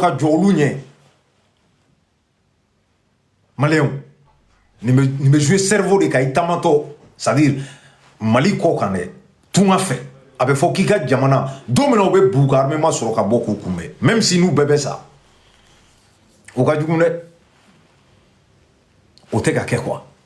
ka jɔ olu ɲɛ maliyɛnw nin bɛ jouer cerveau de kan i taamatɔ c'est à dire mali kɔkan dɛ tunga fɛ a bɛ fɔ k'i ka jamana don min na u bɛɛ b'u ka armement sɔrɔ ka bɔ k'u kunbɛn même si n'u bɛɛ bɛ sa o ka jugu dɛ o tɛ ka kɛ quoi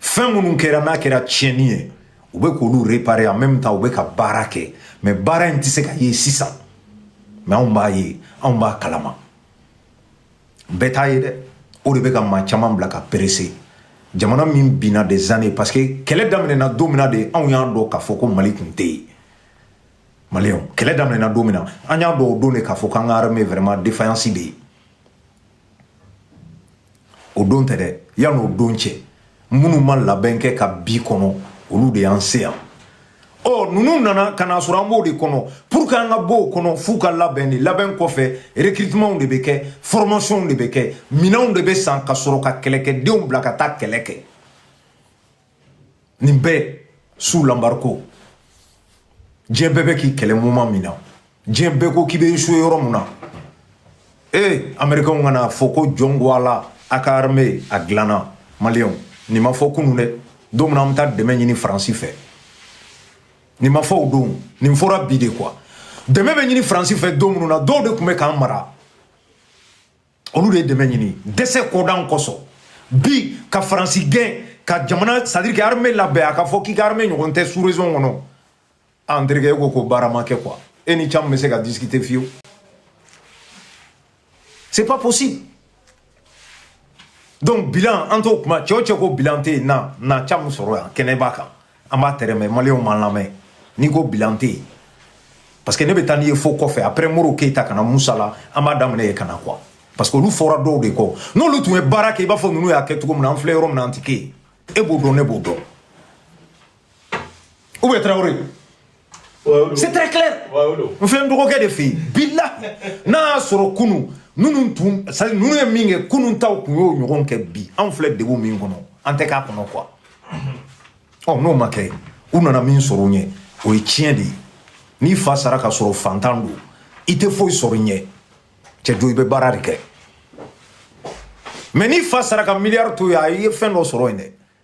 fɛn minnu kɛra n'a kɛra tiɲɛni ye u bɛ k'olu réparer en même temps u bɛ ka baara kɛ mais baara in tɛ se ka ye sisan mais anw b'a ye anw b'a kalama bɛɛ t'a ye dɛ o de bɛ ka maa caman bila ka presser jamana min binna des années parce que kɛlɛ daminɛna don min na de anw y'a dɔn k'a fɔ ko mali tun tɛ yen maliyɛnw kɛlɛ daminɛna don min na an y'a dɔn o don de k'a fɔ k'an ka armée vraiment défaillance bɛ yen o don tɛ dɛ yan'o don cɛ minnu ma labɛn kɛ ka bi kɔnɔ olu de y'an se yan ɔ ninnu nana ka n'a sɔrɔ an b'o de kɔnɔ pour que an ka bɔ o kɔnɔ f'u ka labɛn de labɛn kɔfɛ recrutementw de bɛ kɛ formationw de bɛ kɛ minɛnw de bɛ san ka sɔrɔ ka kɛlɛkɛdenw bila ka taa kɛlɛ kɛ nin bɛɛ sous l'embargo diɲɛ bɛɛ bɛ k'i kɛlɛ moment min na diɲɛ bɛɛ ko k'i bɛ échouer yɔrɔ min na ee américainw ka n'a fɔ ko jɔn ko ala a ka armée a dilanna maliyɛnw nin ma fɔ kunun dɛ don min na an bɛ taa dɛmɛ ɲini faransi fɛ nin ma fɔ o don nin fɔra bi de quoi dɛmɛ bɛ ɲini faransi fɛ don minnu na dɔw de tun bɛ k'an mara olu de ye dɛmɛ ɲini dɛsɛ kodan kosɔn bi ka faransi gɛn ka jamana c'est à dire que armée labɛn a ka fɔ k'i ka armée ɲɔgɔn tɛ sous région kɔnɔ ah n terikɛ e ko ko baara ma kɛ quoi e ni camu bɛ se ka discuter fiyewu c'est pas possible donc bilan an t'o kuma cɛ o cɛ ko bilan tɛ yen na na camu sɔrɔ yan kɛnɛ b'a kan an b'a tɛrɛmɛ maliyɛnw m'an lamɛn n'i ko bilan tɛ yen parce que ne bɛ taa n'i ye fo kɔfɛ après modibo keyita ka na musa la an b'a daminɛ yen ka na quoi parce que olu fɔra dɔw de kɔ n'olu tun ye baara kɛ i b'a fɔ ninnu y'a kɛ cogo min na an filɛ yɔrɔ min na an tɛ kɛ yen e b'o dɔn ne b'o dɔn ou bien tarawele C'est très clair. N filɛ n dɔgɔkɛ de fɛ yen bilahi n'a y'a sɔrɔ kunun ninnu tun c'est à dire ninnu ye min kɛ kunun taw tun y'o ɲɔgɔn kɛ bi anw filɛ degun min kɔnɔ an tɛ k'a kɔnɔ quoi ɔ n'o ma kɛ u nana min sɔrɔ u ɲɛ o ye tiɲɛ de ye n'i fa sara k'a sɔrɔ fantan don i tɛ foyi sɔrɔ i ɲɛ cɛ jo i bɛ baara de kɛ mais n'i fa sara ka miliyari to yen a ye fɛn dɔ sɔrɔ yen dɛ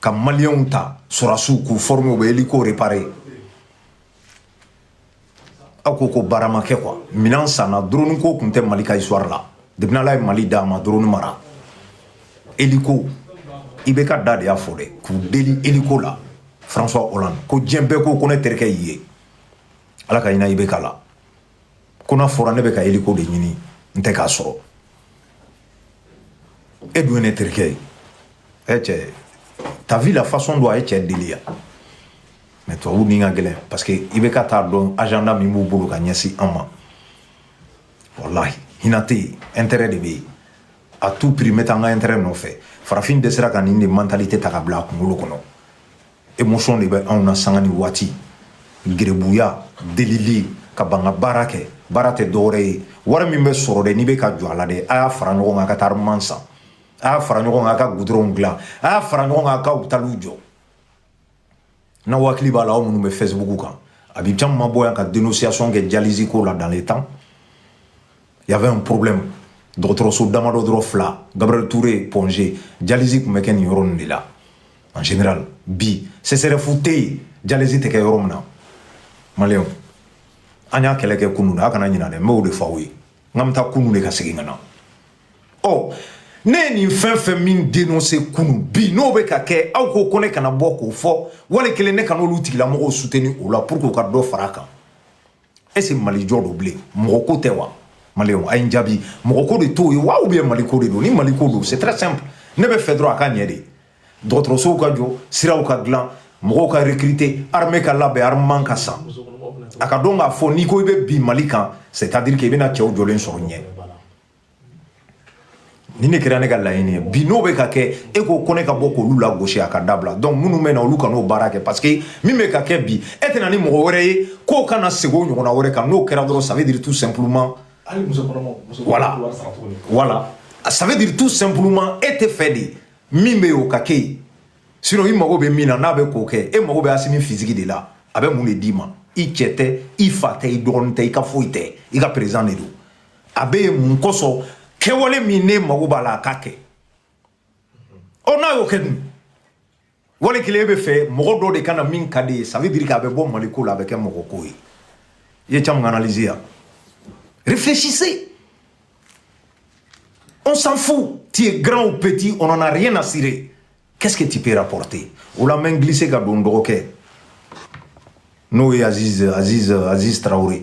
ka maliyɛnw ta sɔrɔdasiw k'u former u bɛ hélico réparer aw ko ko baara ma kɛ quoi minɛn sanna drone ko tun tɛ mali ka histoire la depuis ala ye mali da a ma drone mara hélico IBK da de y'a fɔ dɛ k'u deli hélico la françois hollande ko diɲɛ bɛɛ ko ko ne terikɛ y'i ye ala ka hinɛ IBK la ko n'a fɔra ne bɛ ka hélico de ɲini n tɛ k'a sɔrɔ e dun ye ne terikɛ ye ɛ cɛ t'as vu la façon dont a ye cɛ deli yan mais tubabu ni ka gɛlɛn parce que i bɛ ka t'a dɔn agenda min b'u bolo ka ɲɛsin an ma walahi hinɛ tɛ yen intérêt de bɛ yen à tout prix n bɛ taa n ka intérêt nɔfɛ farafin dɛsɛra ka nin de mentalité ta ka bila a kunkolo kɔnɔ émotion de bɛ anw na sanga ni waati gerebuya delili ka ban ka baara kɛ baara tɛ dɔwɛrɛ ye wari min bɛ sɔrɔ dɛ n'i bɛ ka jɔ a la dɛ a y'a fara ɲɔgɔn kan ka taa armement san a y'a fara ɲɔgɔn kan ka gudɔrɔnw dilan a y'a fara ɲɔgɔn kan ka hôpitaliw jɔ n'aw hakili b'a la aw minnu bɛ facebook kan a bɛ caman ma bɔ yan ka dénonciation kɛ dialyse ko la dans les temps y avait un problème dɔgɔtɔrɔso damadɔ dɔrɔn fila gabriel touré point g dialyse tun bɛ kɛ nin yɔrɔ nin de la en général bi csref tɛ yen dialyse tɛ kɛ yɔrɔ min na maliyɛnw an y'a kɛlɛ kɛ kunun a kana ɲinɛ dɛ n b'o de fɔ aw ye n k'an bɛ taa kunu de ka segin ka na ɔ ne ye nin fɛn fɛn min dénoncer kunu bi n'o bɛ ka kɛ aw ko ko ne kana bɔ k'o fɔ wali kelen ne kana olu tigilamɔgɔw soutenir o la pour que u ka dɔ fara a kan est-ce mali jɔ don bilen mɔgɔ ko tɛ wa maliyɛnw a ye n jaabi mɔgɔ ko de t'o ye wa ou bien mali ko de don ni mali ko don c'est très simple ne b'a fɛ dɔrɔn a ka ɲɛ de dɔgɔtɔrɔsow ka jɔ siraw ka dilan mɔgɔw ka recruter armée ka labɛn armement ka san a ka dɔn k'a fɔ n'i ko i bɛ bin mali kan c'est à dire que i bɛna cɛw jɔlen sɔrɔ ɲɛ nin de kɛra ne ka laɲini ye bi n'o bɛ ka kɛ e ko ko ne ka bɔ k'olu lagosi a k'a dabila donc minnu bɛ na olu ka n'o baara kɛ parce que min bɛ ka kɛ bi e tɛna ni mɔgɔ wɛrɛ ye k'o kana segin o ɲɔgɔnna wɛrɛ kan n'o kɛra dɔrɔn ça veut dire tout simplement hali muso kɔnɔmaw muso voilà voilà ça veut dire tout simplement e t'a fɛ de min bɛ yen o ka kɛ yen sinon i mago bɛ min na n'a bɛ k'o kɛ e mago bɛ assimi physique de la a bɛ mun de d'i ma i cɛ tɛ i fa tɛ i dɔgɔnin tɛ i ka foyi tɛ i ka président de don a bɛ yen mun kosɔn kɛwale min ne mago b'a la a k'a kɛ ɔ n'a y'o kɛ dun wali kelen e bɛ fɛ mɔgɔ dɔ de ka na min ka di i ye ça veut dire k'a bɛ bɔ mali ko la a bɛ kɛ mɔgɔ ko ye i ye caman analyse yan réfléchissez on s'en fout tu es grand ou petit on en a rien à cirer qu'est-ce que tu peux rapporter o la n bɛ glisser ka don dɔgɔkɛ n'o ye aziz aziz aziz traoré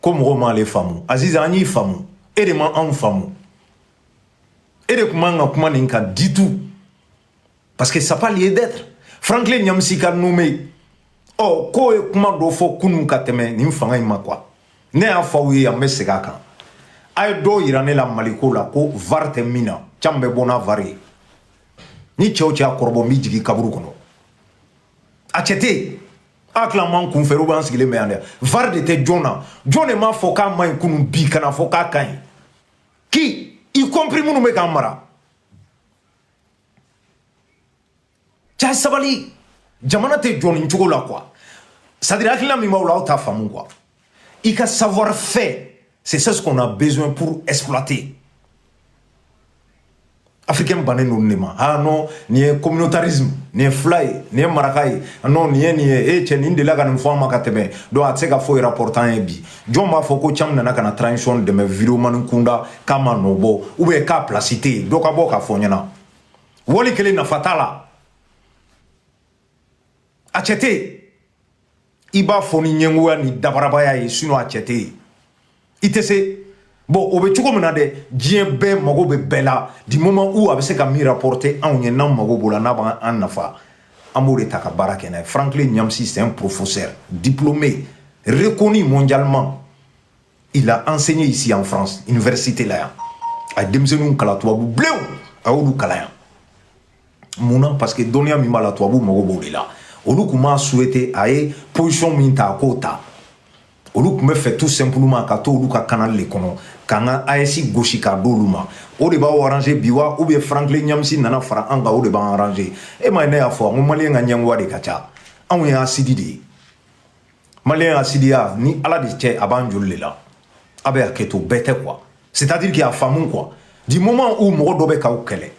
ko mɔgɔw m'ale faamu aziz an y'i faamu e de ma anw faamu e de tun man ka kuma nin kan du tout parce que ça n'a pas lieu d'être franklin nyamsi ka nommer ɔ oh, k'o ye kuma dɔ fɔ kunun ka tɛmɛ nin fanga in ma quoi ne y'a fɔ aw ye an bɛ segin a kan a ye dɔw yira ne la maliko la ko var tɛ min na can bɛ bɔ n'a var ye ni cɛ o cɛ y'a kɔrɔbɔ n b'i jigin kaburu kɔnɔ a cɛ tɛ yen a tila man kun fɛ u b'an sigilen bɛ yan dɛ var de tɛ jɔn na jɔn de m'a fɔ k'a man ɲi kunun bi ka n'a fɔ k'a ka ɲi ki y compris minnu bɛ k'an mara cɛ sabali jamana tɛ jɔ nin cogo la quoi c'est-à-dire hakilina min b'aw la aw t'a faamu quoi I ka savoir-faire, c'est ce qu'on a besoin pour exploiter. Africain bannen don ne ma ah non nin ye communautarisme nin ye fila ye nin ye maraka ye ah, non nin ye nin ye e cɛ nin delila ka nin fɔ an ma ka tɛmɛ donc a tɛ se ka foyi rapporter an ye bi jɔn b'a fɔ ko cam nana ka na transition dɛmɛ videomanw kunda k'a ma nɔ bɔ ou bien k'a place tɛ yen dɔ ka bɔ k'a fɔ ɲɛna wali kelen nafa t'a la a cɛ tɛ yen i b'a fɔ ni ɲɛngoya ni dabarabaya ye sinon a cɛ tɛ yen i tɛ se bon o bɛ cogo min na dɛ diɲɛ bɛɛ mago bɛ bɛɛ la du moment où a bɛ se ka min rapporter anw ye n'an mago b'o la n'a b'an nafa an b'o de ta ka baara kɛ n'a ye Franklin Nyamsi c'est un professeur diplômé reconnu mondialement il a enseigné ici en france université la yan a ye denmisɛnninw kalan tubabu bilenw a y'olu kalan yan mun na parce que dɔnniya min b'a la tubabu mago b'o de la olu tun m'a souhaité a ye position min ta a k'o ta olu tun bɛ fɛ tout simplement ka to olu ka canal de kɔnɔ k'an ka AES gosi k'a d'olu ma o de b'aw arranger bi wa ou bien Franklin Nyamsi nana fara an kan o de b'an arranger e ma ye ne y'a fɔ n ko maliyɛn ka ɲɛngoya de ka ca anw ye hasidi de ye maliyɛn ka hasidiya ni ala de cɛ a b'an joli de la a bɛ hakɛ to bɛɛ tɛ quoi c'est à dire k'a faamu quoi du moment où mɔgɔ dɔ bɛ k'aw kɛlɛ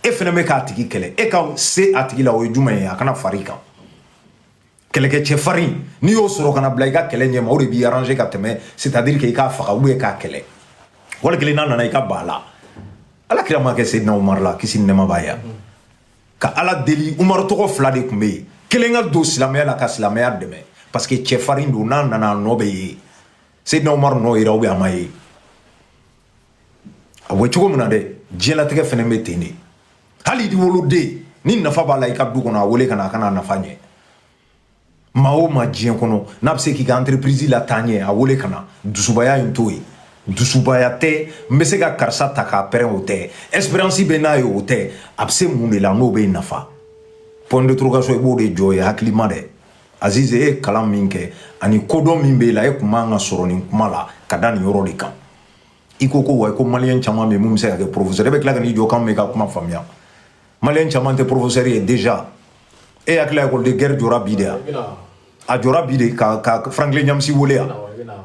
e fana bɛ k'a tigi kɛlɛ e ka se a tigi la o ye jumɛn ye a ka na far'i kan kɛlɛkɛcɛ farin n'i y'o sɔrɔ ka n'a bila i ka kɛlɛ ɲɛma o de b'i arranger ka tɛmɛ c'est à dire que i k'a faga ou bien k'a kɛlɛ wali kelen n'a nana i ka ba la ala kira m'a kɛ seydina umar la kisi ni nɛɛma b'a ye ka ala deli umaru tɔgɔ fila de tun bɛ yen kelen ka don silamɛya la ka silamɛya dɛmɛ parce que cɛfarin don n'a nana a nɔ bɛ ye seyidina umaru nɔ yera ou bien a ma ye a bɛ cogo min na dɛ diɲɛlatigɛ fana bɛ ten de hali i woloden ni nafa b'a la i ka du kɔnɔ a wele ka na a ka na nafa ɲɛ maa o maa diɲɛ kɔnɔ n'a bɛ se k'i ka entreprise lataa ɲɛ a wele ka na dusubaya in t'o ye dusubaya tɛ n bɛ se ka karisa ta k'a pɛrɛn o tɛ espérance bɛ n'a ye o tɛ a bɛ se mun de la n'o bɛ nafa point d'interrogation i b'o de jɔ ye hakilima dɛ azize e ye kalan min kɛ ani kodɔn min b'e la e tun man ka sɔrɔ nin kuma la ka da nin yɔrɔ de kan i ko ko wa ko maliyɛn caman bɛ yen min bɛ se ka kɛ professeur e bɛ tila ka n'i jɔ k'anw bɛ ka kuma faamuya maliyɛn caman tɛ porofosɛri ye déjà e hakili la école de guerre jɔra bi de wa a jɔra bi de ka ka Franklin Nyamsi wele yan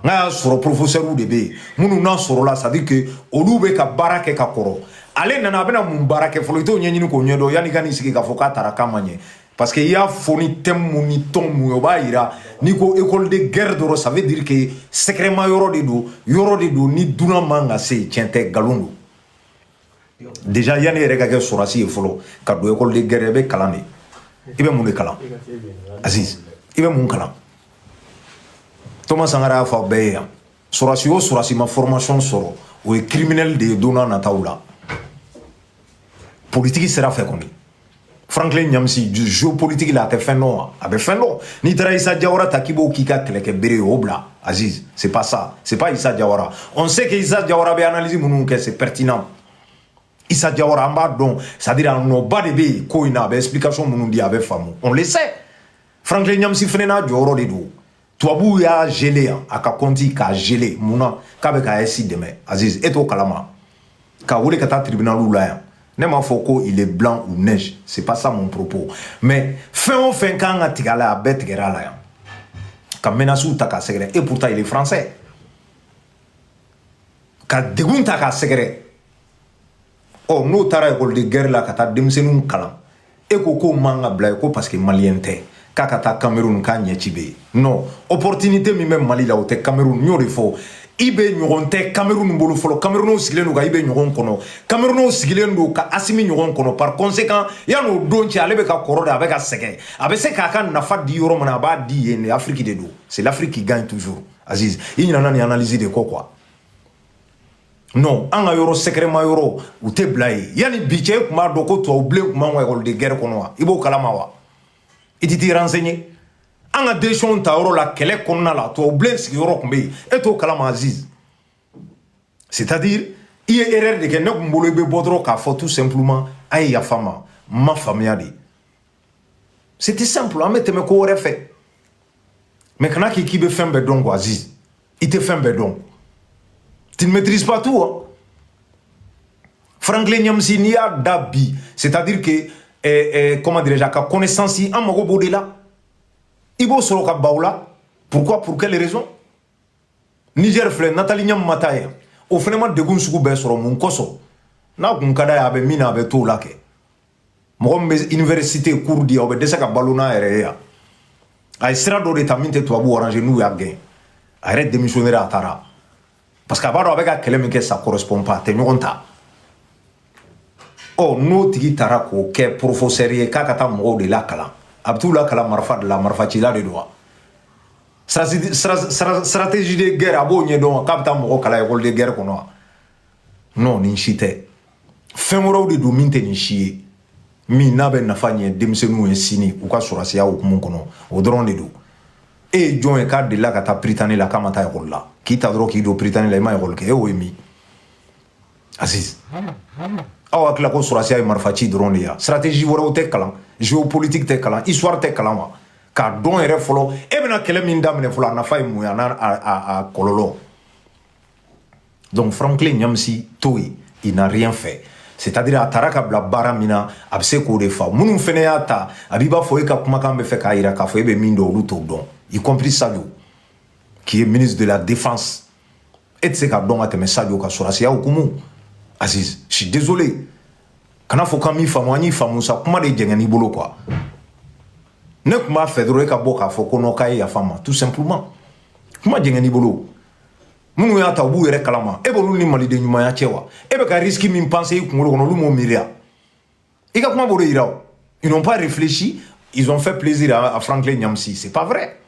n'a y'a sɔrɔ porofosɛriw de bɛ yen minnu n'a sɔrɔla c'est à dire que olu bɛ ka baara kɛ ka kɔrɔ ale nana a bɛna mun baara kɛ fɔlɔ i t'o ɲɛɲini k'o ɲɛdɔn yanni i ka n'i sigi k'a fɔ k'a taara k'a ma ɲɛ parce que i y'a fɔ ni tɛmu min ni ton min ye o b'a yira n'i ko école de guerre dɔrɔn ça veut dire que sɛgɛrɛma yɔrɔ de don yɔrɔ de don ni dunan man ka se yen tiɲɛ tɛ nkalon don déjà yanni i yɛrɛ ka kɛ sɔrɔsi ye fɔlɔ ka don école de guerre i bɛ kalan de i bɛ mun de kalan aziz i bɛ mun kalan Thomas Sankara y'a fɔ aw bɛɛ ye yan sɔrɔsi o sɔrɔsi ma formation sɔrɔ o ye criminel de ye don n'a nataw la politiki sira fɛ kɔni Franklin Ɲamsi géopolitique la a tɛ fɛn dɔn wa a bɛ fɛn dɔn n'i taara Issa Diawara ta k'i b'o k'i ka kɛlɛkɛ bere ye o bila Aziz c'est pas ça c'est pas Issa Diawara on sait que Issa Diawara bɛ analyse minnu kɛ c'est pertinent Issa Diawara an b'a dɔn c'est à dire a nɔba de bɛ yen ko in na a bɛ explication minnu di a bɛ faamu on le sait Franklin Ɲamsi fana n'a jɔyɔrɔ de don tubabuw y'a gelé yan a ka kɔnti k'a gelé mun na k'a bɛ ka AES dɛmɛ aziz e t'o kalama k'a wele ka taa tribunaliw la yan ne m'a fɔ ko il est blanc ou neige c'est pas ça mon propos mais fɛn o fɛn kan ka tigɛ a la a bɛɛ tigɛra a la yan ka menasiw ta k'a sɛgɛrɛ et pourtant il est français ka degun ta k'a sɛgɛrɛ ɔ n'o taara école de guerre la ka taa denmisɛnninw kalan e ko k'o man ka bila yen ko parce que maliyɛn tɛ k'a ka taa kamerun k'a ɲɛci bɛ yen non opportunité min bɛ mali la o tɛ kamerun n y'o de fɔ IB ɲɔgɔn tɛ kamerun bolo fɔlɔ kamerunw sigilen don ka IB ɲɔgɔn kɔnɔ kamerunw sigilen don ka Assimi ɲɔgɔn kɔnɔ par conséquent yan'o don cɛ ale bɛ ka kɔrɔ de a bɛ ka sɛgɛn a bɛ se k'a ka nafa di yɔrɔ min na a b'a di yen de afiriki de don c'est l'afrique qui gagne toujours aziz i ɲinana nin analyse de kɔ quoi non an ka yɔrɔ sɛgɛrɛma yɔrɔ u tɛ bila yen yanni bi cɛ e tun b'a dɔn ko tubabu bilen tun b'an ka école de guerre kɔnɔ wa i b'o kalama wa i tɛ t'i renseigner an ka decision ta yɔrɔ la kɛlɛ kɔnɔna la tubabu bilen sigiyɔrɔ tun bɛ yen e t'o kalama aziz c'est à dire i ye erreur de kɛ ne tun bolo i bɛ bɔ dɔrɔn k'a fɔ tout simplement a ye yafa n ma n ma faamuya de C'était simple, an bɛ tɛmɛ ko wɛrɛ fɛ. Mais kana k'i k'i bɛ fɛn bɛɛ dɔn quoi Aziz. I tɛ fɛn bɛɛ dɔn. Tu ne maîtrises pas tout hein. Franklin Nyamsi n'i y'a da bi, c'est-à-dire que eh, eh, comment dirais-je a ka connaissance an mago b'o de la. I b'o sɔrɔ ka ban o la. Pourquoi? Pour quelle raison? Niger filɛ Nathalie Yamb ma taa yen o fana ma degun sugu bɛɛ sɔrɔ mun kosɔn n'a kun ka d'a ye a bɛ min na a bɛ t'o la kɛ mɔgɔ min bɛ université cours di o bɛ dɛsɛ ka balo n'a yɛrɛ ye yan a ye sira dɔ de ta min tɛ tubabu arranger n'u y'a gɛn a yɛrɛ démissionner a taara parce que a b'a dɔn a bɛ ka kɛlɛ min kɛ ça correspond pas a tɛ ɲɔgɔn ta ɔ n'o tigi taara k'o kɛ professeur ye k'a ka taa mɔgɔw de lakalan a bɛ t'u lakalan marifa de la marifacila de don wa stratégie de guerre a b'o ɲɛdɔn wa k'a bɛ taa mɔgɔ kalan école de guerre kɔnɔ wa non nin si tɛ fɛn wɛrɛw de don min tɛ nin si ye min n'a bɛ nafa ɲɛ denmisɛnninw ye sini u ka sɔrɔsiya hukumu kɔnɔ o dɔrɔn de don e ye jɔn ye k'a delila ka taa Prytanée la k'a ma taa ekɔli la k'i ta dɔrɔn k'i don Prytanée la i ma ekɔli kɛ e y'o ye min aziz aw hakili la ko sɔrɔsiya ye marifa ci dɔrɔn de ye stratégie wɛrɛw tɛ kalan géopolitique tɛ kalan histoire tɛ kalan wa k'a dɔn yɛrɛ fɔlɔ e bɛna kɛlɛ min daminɛ fɔlɔ a nafa ye mun ye a n'a kɔlɔlɔ donc Franklin Nyamsi to yen il n'a rien fait c'est à dire a tara ka bila baara min na a bɛ se k'o de fa minnu fana y'a ta a b'i b'a fɔ e ka kumakan b'a fɛ k'a jira k'a fɔ e bɛ min dɔn olu t'o dɔn y compris sadio qui est ministre de la défense e tɛ se k'a dɔn ka tɛmɛ sadio kan sɔrɔsiya hukumu aziz je suis désolé kana fɔ k'an m'i faamu an y'i faamu sa kuma de jɛngɛn'i bolo quoi ne tun b'a fɛ dɔrɔn e ka bɔ k'a fɔ ko non k'a ye yafa n ma tout simplement kuma jɛngɛn'i bolo minnu y'a ta u b'u yɛrɛ kalama e b'olu ni maliden ɲumanya cɛ wa e bɛ ka risque min penser i kunkolo kɔnɔ olu m'o miiriya i ka kuma b'o de yira o ils n'ont pas réfléchi ils ont fait plaisir à, à Franklin Nyamsi c'est pas vrai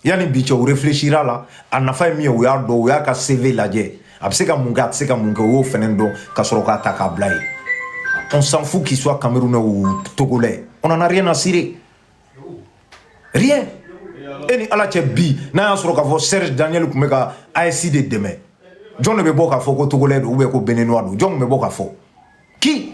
yanni bi cɛ o réfléchir a la a nafa ye min ye o y'a dɔn o y'a ka CV lajɛ a bɛ se ka mun kɛ a tɛ se ka mun kɛ o y'o fɛnɛ dɔn ka sɔrɔ k'a ta k'a bila yen on s'en fout qu'il soit camerounais ou togolais on en a rien à cirer rien e ni ala cɛ bi n'a y'a sɔrɔ k'a fɔ serge daniel tun bɛ ka AES de dɛmɛ jɔn de bɛ bɔ k'a fɔ ko togolais don ou bien ko béninois don jɔn tun bɛ bɔ k'a fɔ qui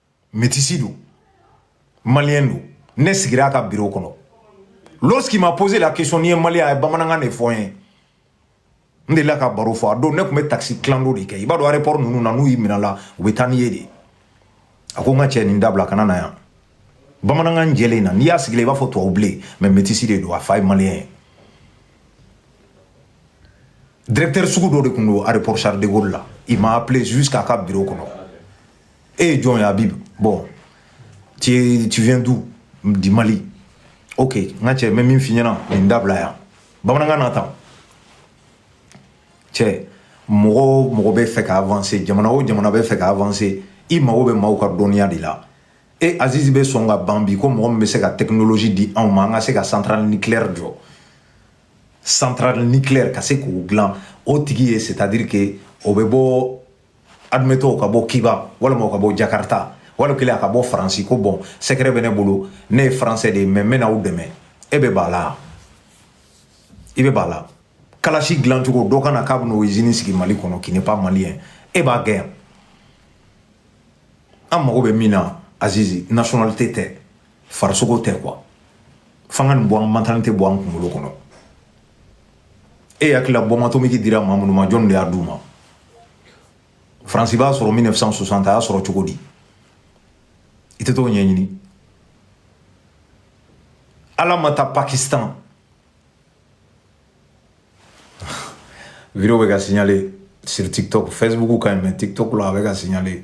métisi don maliyɛn don ne sigira a ka biro kɔnɔ lorsqu'il m'a posé la question n'i ye maliyɛn a ye bamanankan de fɔ n ye n delila k'a baro fɔ a don ne tun bɛ taxi clando de kɛ i b'a dɔn aéroport ninnu na n'u y'i minɛ la u bɛ taa n'i ye de a ko n ka cɛ nin dabila kana na yan bamanankan jɛlen na n'i y'a sigilen i b'a fɔ tubabu bilen mais métisi de don a fa ye maliyɛn ye directeur sugu dɔ de tun don aéroport charles de gaulle la il m'a appelé jusqu'à ka biro kɔnɔ Et eh, John Habib, bon, tu, tu viens d'où Du Mali. Ok, nga cɛ n bɛ min f'i ɲɛna nin dabila yan bamanankan na tan cɛ mɔgɔ o mɔgɔ bɛ fɛ ka avanse jamana o jamana bɛ fɛ ka avanse i mago bɛ maaw ka dɔnniya de la e azizi bɛ sɔn ka ban bi ko mɔgɔ min bɛ se ka technologie di anw ma an ka se ka centrale nucléaire jɔ centrale nucléaire ka se k'o dilan o tigi ye c'est à dire que o bɛ bɔ admettons o ka bɔ kiba walima o ka bɔ jakarta wali kelen a ka bɔ faransi ko bon secret bɛ ne bolo ne ye faransɛ de ye mais n bɛna aw dɛmɛ e bɛ ban a la i bɛ ban a la kalasi dilancogo dɔ ka na k'a bɛn'o izini sigi mali kɔnɔ qui n'est pas malien e b'a gɛn yan an mago bɛ min na azizi nationalité tɛ farisogo tɛ quoi fo an ka nin bɔ an mentalité bɔ an kunkolo kɔnɔ e hakili la bombe atomique dira maa minnu ma jɔnni de y'a d'u ma faransi b'a sɔrɔ 1960 a y'a sɔrɔ cogo di i tɛ t'o ɲɛɲini ala ma taa pakistan vidéo bɛ ka signaler sur tiktok facebook quand même tiktok la a bɛ ka signaler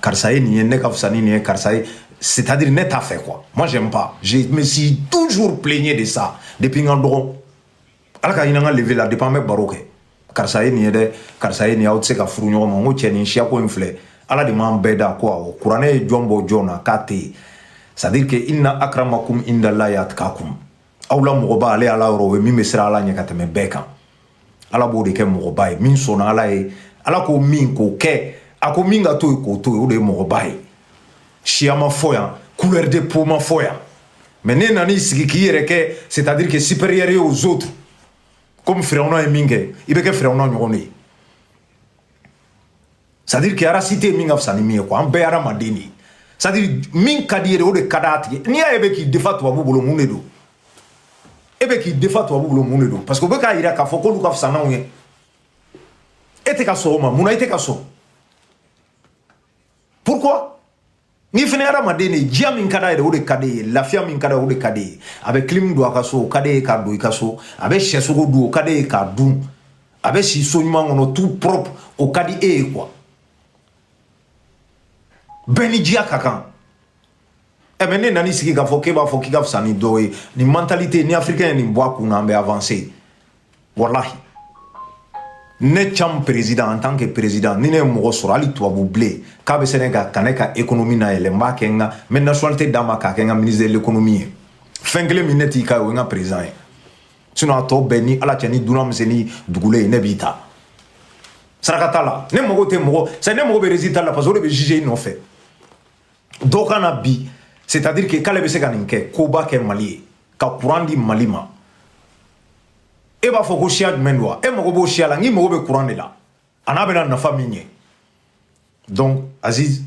karisa ye nin ye ne ka fisa ni nin ye karisa ye c'est-à-dire ne t'a fɛ quoi moi j'aime pas je me suis toujours plaigné de ça depuis n ka dɔgɔ ala ka ɲinan ka lever la depuis an bɛ baro kɛ karisa ye nin ye dɛ karisa ye nin ye aw tɛ se ka furu ɲɔgɔn ma n ko cɛ nin siyako in filɛ ala de m'an bɛɛ da quoi kuranɛ ye jɔn bɔ jɔn na k'a tɛ yen c'est-à-dire que inna akramakum indalahi atkakum aw la mɔgɔba ale ala yɔrɔ o ye min bɛ siran ala ɲɛ ka tɛmɛ bɛɛ kan ala b'o de kɛ mɔgɔba ye min sɔnna ala ye ala ko min k'o kɛ a ko min ka to yen k'o to yen o de ye mɔgɔba ye siya ma fɔ yan couleur de peau ma fɔ yan mais n'e nan'i sigi k'i yɛrɛ kɛ c'est à dire que supérieur ye aux autres komi firawuna ye min kɛ i bɛ kɛ firawuna ɲɔgɔn de ye c'est-à-dire que race si tɛ min ka fisa ni min ye quoi an bɛɛ hadamaden de ye c'est-à-dire min ka d'i yɛrɛ o de ka d'a tigi n'i y'a ye e bɛ k'i défendre tubabu bolo mun de don e bɛ k'i défendre tubabu bolo mun de don parce que u bɛ k'a jira k'a fɔ k'olu ka fisa n'anw ye e tɛ ka sɔn o ma mun na i tɛ ka sɔn pourquoi Nin fana ye hadamaden de ye diya min ka d'a ye o de ka d'e ye lafiya min ka d'a ye o de ka d'e ye a bɛ clim don a ka so o ka d'e ye k'a don i ka so a bɛ syɛsogo dun o ka d'e ye k'a dun a bɛ si so ɲuman kɔnɔ tout propre o ka di e ye quoi bɛɛ ni diya ka kan ɛ mais n'e nan'i sigi k'a fɔ k'e b'a fɔ k'i ka fisa ni dɔw ye nin mentalité ni africain ye nin bɔ a kun na an bɛ avancer walahi ne cam président en tant que président ni ne ye mɔgɔ sɔrɔ hali tubabu bilen k'a bɛ se ne ka ka ne ka économie layɛlɛ n b'a kɛ n ka n bɛ nationalité d'a ma k'a kɛ n ka ministre de l'économie ye fɛn kelen min ne t'i k'a ye o ye n ka président ye sinon a tɔ bɛɛ ni ala cɛ ni dunan bɛ se ni dugulen ye ne b'i ta saraka t'a la ne mago tɛ mɔgɔ c'est ne mago bɛ résultat la parce que o de bɛ juger i nɔfɛ dɔ ka na bi c'est à dire que k'ale bɛ se ka nin kɛ koba kɛ mali ye ka courant di mali ma e b'a fɔ ko siya jumɛn don wa e mago b'o siya la n k'i mago bɛ kuran de la ani a bɛna nafa min ɲɛ donc aziz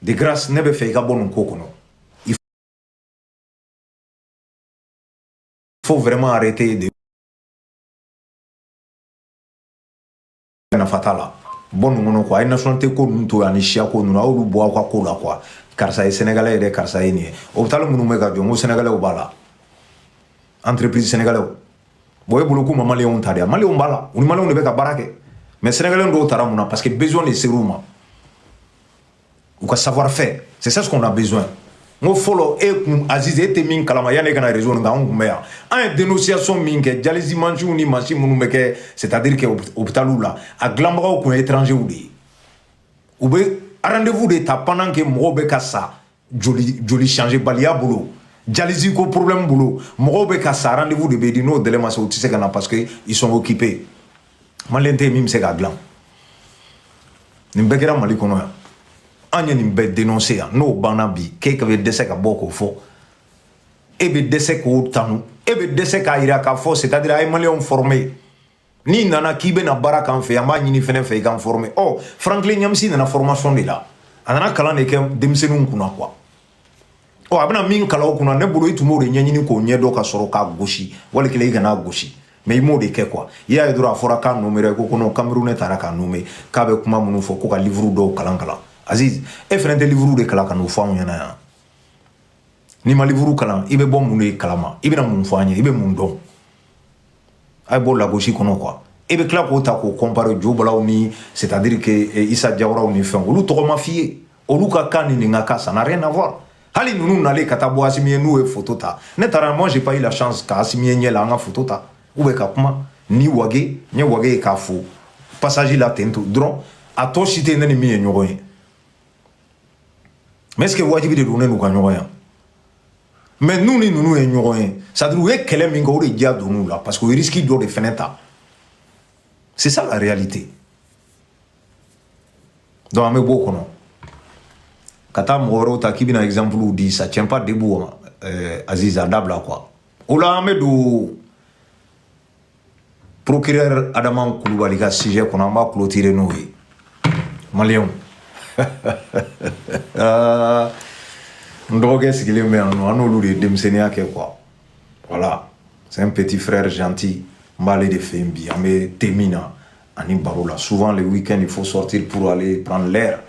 de grâce ne b'a fɛ i ka bɔ nin ko kɔnɔ il faut vraiment arrêter de nafa t'a la bɔ ninnu kɔnɔ quoi a ye nationalité ko ninnu to yan ni siya ko ninnu a y'olu bɔ aw ka ko la quoi karisa ye sénégalais ye dɛ karisa ye nin ye hôpital minnu bɛ ka jɔ n ko sénégalaisw b'a la entreprise sénégalais bon e bolo k'u ma maliyɛnw ta de ya maliyɛnw b'a la u ni maliyɛnw de bɛ ka baara kɛ mais sénégalais dɔw tara mun na parce que besoin de ser'u ma u ka savoir faire c'est ça ce qu'on a besoin n ko fɔlɔ e kun aziz e tɛ min kalama yanni e ka na réseau nin kan anw kun bɛ yan an ye dénonciation min kɛ dialyse mansinw ni mansin minnu bɛ kɛ c'est à dire que hôpitaliw la a dilanbagaw kun ye étrangers de ye u bɛ rendez-vous de ta pendant que mɔgɔw bɛ ka sa joli joli changer baliya bolo dialyse ko problème bolo mɔgɔw bɛ ka sa rendez-vous de bɛ di n'o délai ma se u tɛ se ka na parce que ils sont occupés maliyɛn tɛ yen min bɛ se k'a dilan nin bɛɛ kɛra mali kɔnɔ yan an ye nin bɛɛ denonse yan n'o banna bi k'e ka bɛ dɛsɛ ka bɔ k'o fɔ e bɛ dɛsɛ k'o tanu e bɛ dɛsɛ k'a jira k'a fɔ c'est à dire a ye maliyɛnw former n'i nana k'i bɛna baara k'an fɛ an b'a ɲin'i fɛnɛ fɛ i k'an former ɔ franklin nyamsi nana formation de la a nana kalan de kɛ denmisɛnninw kunna quoi ɔ a bɛna min kalan u kunna ne bolo i tun b'o de ɲɛɲini k'o ɲɛdɔn ka sɔrɔ k'a gosi wali kelen i k'a lagosi mais i m'o de kɛ quoi i y'a ye dɔrɔn a fɔra k'a nomera ko kono camerounais tara k'a nommer k'a bɛ kuma minnu fɔ ko ka livuru dɔw kalan kalan aziz e fɛnɛ tɛ livuru de kalan ka n'o fɔ anw ɲɛna yan n'i ma livuru kalan i bɛ bɔ mun de kalama i bɛna mun fɔ an ye i bɛ mun dɔn a ye bɔ lagosi kɔnɔ quoi e bɛ tila k'o ta k'o kɔnpare jobalaw ni c'est-à-dire que eh, isa jawaraw ni fɛn olu tɔgɔ ma f'i ye olu ka kan ni nin ka kan ça n'a rien à voir hali ninnu nalen ka taa bɔ asimi ye n'u ye foto ta ne taara moi j'ai pas eu la chance ka asimi ye ɲɛ la an ka foto ta ou bien ka kuma ni wage n ye wage ye k'a fo passage la ten to dɔrɔn a tɔ si tɛ ne ni min ye ɲɔgɔn ye mais est-ce que wajibi de don ne n'u ka ɲɔgɔn ye mais n'u ni ninnu ye ɲɔgɔn ye c'est à dire u ye kɛlɛ min kɛ o de diya donn'u la parce que u ye risiki dɔ de fɛnɛ ta c'est ça la réalité donc an bɛ b'o kɔnɔ ka taa mɔgɔ wɛrɛw ta k'i bɛna exemple di ça tient pas debout euh, aziz a dabila quoi o la an bɛ don procureur Adama Koulibaly ka sujet kɔnɔ an b'a clôturer n'o ye maliyɛnw ah, n dɔgɔkɛ sigilen bɛ yan nɔ an n'olu de ye denmisɛnninya kɛ quoi voilà c'est un petit frère gentil n b'ale de fɛ yen bi an bɛ te min na ani baro la souvent le week-end il faut sortir pour aller prendre l'air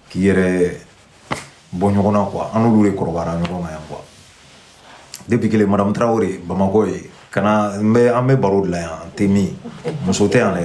k'i yɛrɛ bɔ ɲɔgɔn na quoi an n'olu de kɔrɔbayara ɲɔgɔn ma yan quoi depuis kelen madame Traore Bamakɔ ye kana n bɛ an bɛ baro de la yan te min muso tɛ yan dɛ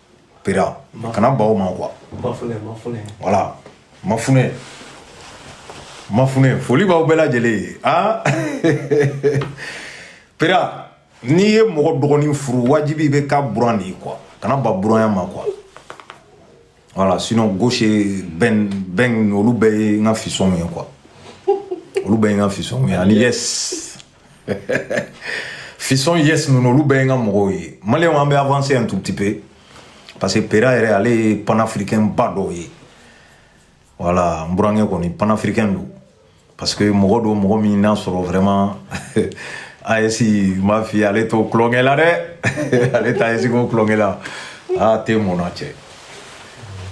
pera kana ban o ma quoi voilà mafunɛ mafunɛ foli b'aw bɛɛ lajɛlen ye a pera n'i ye mɔgɔ dɔgɔnin furu wajibi bɛ k'a buran de ye quoi kana ban buranya ma quoi voilà sinon gauche bɛn bɛn olu bɛɛ ye n ka fistonw ye quoi olu bɛɛ ye n ka fistonw ye ani yes fiston yes ninnu olu bɛɛ ye n ka mɔgɔw ye maliyɛnw an bɛ avancer un tout petit peu parce que pera yɛrɛ ale ye panafricain ba dɔ ye voilà n burankɛ kɔni panafricain don parce que mɔgɔ don mɔgɔ min n'a sɔrɔ vraiment AES m'a f'i ye ale t'o tulonkɛ la dɛ ale t'a AES ko tulonkɛ la aa te mɔnna cɛ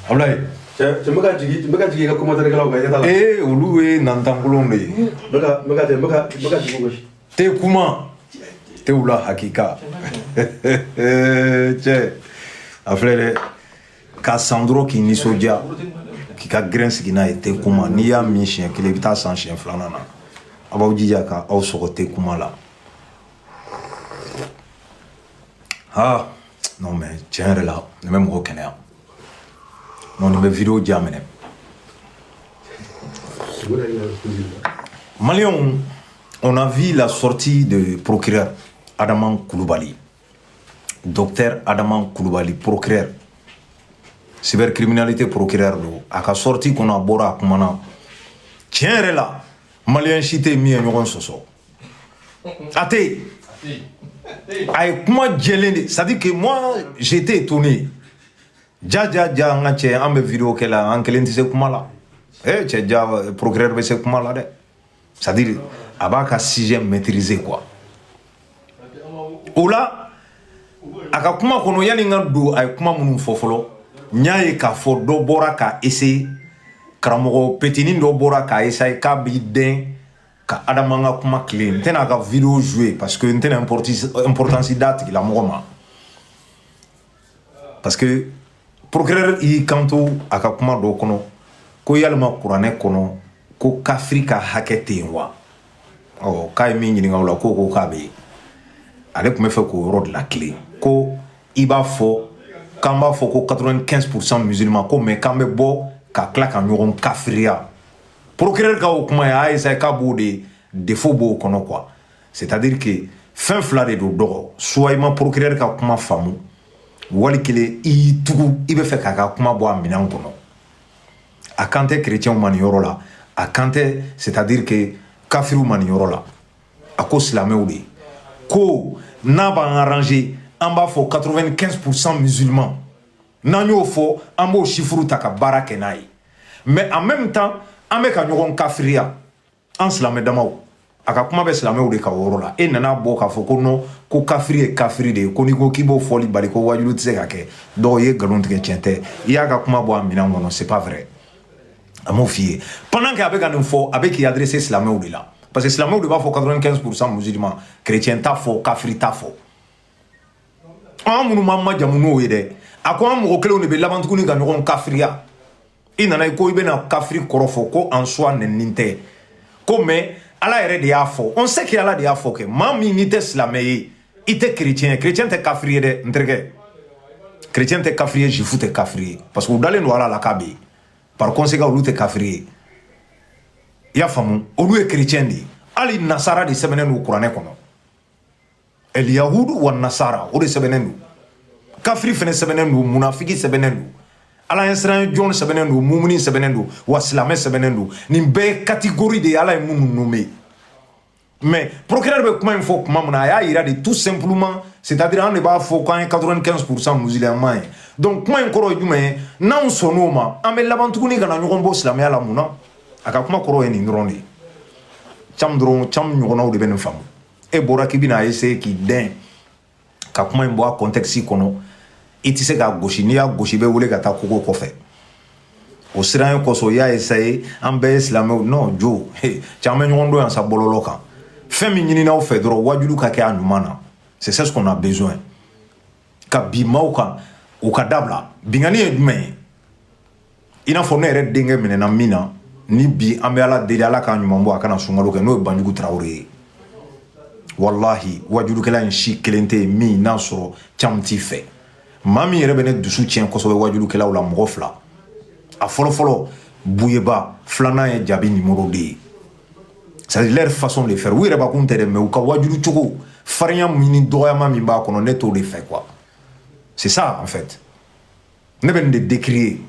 Ablaye cɛ cɛ n bɛ ka jigin n bɛ ka jigin i ka commentaire kɛlaw kan i ɲɛ t'a la ee olu ye nantankolonw de ye n bɛ ka n bɛ ka cɛ n bɛ ka n bɛ ka jigin koyi te kuma tew la hakika cɛ a filɛ dɛ k'a san dɔrɔn k'i nisɔndiya k'i ka gɛrɛn sigi n'a ye te kuma n'i y'a min siɲɛ kelen i bɛ taa san siɲɛ filanan na a b'aw jija ka aw sɔgɔ te kuma la ha non mais tiɲɛ yɛrɛ la nin bɛ mɔgɔ kɛnɛya non nin bɛ video diya minɛ Maliens, on a vu la sortie de procureur Adama Koulibaly. Docteur Adama Koulibaly, procureur. Cybercriminalité procureur don. A ka sortie kɔni a bɔra a kumana. Tiɲɛ yɛrɛ la, Malien si tɛ min ye ɲɔgɔn sɔsɔ. A tɛ yen. A ye kuma jɛlen de c'est à dire que moi j'ai été étonné ja ja ja n ka cɛ an bɛ video kɛ la an kelen tɛ se kuma la ee cɛ ja procureur bɛ se kuma la dɛ c'est à dire a b'a ka sujet maîtriser quoi o la a ka kuma kɔnɔ yanni n ka don a ye kuma minnu fɔ fɔlɔ n y'a ye k'a fɔ dɔ bɔra k'a essayer karamɔgɔ petinin dɔ bɔra k'a essayer k'a b'i dɛn ka adama ka kuma kelen n tɛna ka video jouer parce que n tɛna importance d'a tigila mɔgɔ ma parce que procureur y'i kanto a ka kuma dɔ kɔnɔ ko yalima kuranɛ kɔnɔ ko kafiri ka hakɛ tɛ yen wa ɔ k'a ye min ɲininka o la k'o ko k'a bɛ yen ale tun bɛ fɛ k'o yɔrɔ de latilen ko i b'a fɔ k'an b'a fɔ ko 95 pourcent musulman ko mais k'an bɛ bɔ ka tila ka ɲɔgɔn kafiriya procureur ka o kuma y'a essayer k'a b'o de défaut b'o kɔnɔ quoi c'est à dire que fɛn fila de don dɔgɔ soit i ma procureur ka kuma faamu wali kelen i y'i tugu i bɛ fɛ k'a ka kuma bɔ a minɛn kɔnɔ a kan tɛ chrétienw ma nin yɔrɔ la a kan tɛ c'est à dire que kafiriw ma nin yɔrɔ la a ko silamɛw de ko n'a b'an arranger an b'a fɔ 95 pourcent musulman n'an y'o fɔ an b'o chiffre ta ka baara kɛ n'a ye mais en même temps an bɛ ka ɲɔgɔn kafiriya an silamɛ damaw a ka kuma bɛ silamɛw de ka yɔrɔ la e nana bɔ k'a fɔ ko non ko kafiri ye kafiri de ye ko n'i ko k'i b'o fɔli bali ko wajulu tɛ se ka kɛ dɔw ye nkalon tigɛ tiɲɛ tɛ i y'a ka kuma bɔ a minɛn kɔnɔ c'est pas vrai a m'o f'i ye pendant que a bɛ ka nin fɔ a bɛ k'i adresser silamɛw de la parce que silamɛw de b'a fɔ 95 pourcent musulman chrétien t'a fɔ kafiri t'a fɔ an minnu b'an majamu n'o ye dɛ a ko an mɔgɔ kelenw de bɛ laban tuguni ka ɲɔgɔn kafiriya i nana ko i bɛna kafiri kɔrɔ fɔ ko en soi nɛnini tɛ ko mais ala yɛrɛ de y'a fɔ on sait que ala de y'a fɔ kɛ maa min n'i tɛ silamɛ ye i tɛ chrétien ye chrétien tɛ kafiri ye dɛ n terikɛ chrétien tɛ kafiri ye juif tɛ kafiri ye parce que u dalen don ala la k'a bɛ yen par conséquent olu tɛ kafiri ye i y'a faamu olu ye chrétien de ye hali nasara de sɛbɛnnen don kuranɛ kɔnɔ alyahudu wa nasara o de sɛbɛnnen don kafiri fɛnɛ sɛbɛnnen don munafiki sɛbɛnnen don ala ɲɛsiran jɔn sɛbɛnnen don mumuni sɛbɛnnen don wa silamɛ sɛbɛnnen don nin bɛɛ ye catégorie de ye ala ye minnu nommer mais procureur bɛ kuma in fɔ kuma min na a y'a yira de tout simplement c'est à dire an de b'a fɔ k'an ye 95 pourcent musulman ye donc kuma in kɔrɔ ye jumɛn ye n'anw sɔnn'o ma an bɛ laban tuguni ka na ɲɔgɔn bɔ silamɛya la mun na a ka kuma kɔrɔ ye nin dɔrɔn de ye cam dɔrɔn cam ɲɔgɔnnaw de bɛ nin faamu e bɔra k'i bɛna essayer k'i dɛn ka kuma in bɔ a contexte kɔnɔ i tɛ se k'a gosi n'i y'a gosi i bɛ wele ka taa kogo kɔfɛ o siranɲɛ kosɔn i y'a essayer an bɛɛ ye silamɛw non jo cɛ an bɛ ɲɔgɔn dɔn yan sa bɔlɔlɔ kan fɛn min ɲinin'aw fɛ dɔrɔn wajulu ka kɛ a ɲuman na c'est ce qu'on a besoin ka bin maaw kan o ka dabila binkanni ye jumɛn ye i n'a fɔ ne yɛrɛ denkɛ minɛna min na ni bi an bɛ ala deli ala k'a ɲuman bɔ a kana sunkalo kɛ n'o ye banjugu tarawele ye walahi wajulukɛla in si kelen tɛ yen min n'a sɔrɔ caman t'i fɛ maa min yɛrɛ bɛ ne dusu tiɲɛ kosɛbɛ wajulukɛlaw la mɔgɔ fila a fɔlɔfɔlɔ buyeba filanan ye jabi numéro deux ye c'est à dire leur façon de faire u yɛrɛ bakun tɛ dɛ mais u ka wajulu cogo farinya min ni dɔgɔyama min b'a kɔnɔ ne t'o de fɛ quoi c'est ça en fait ne bɛ nin de décrier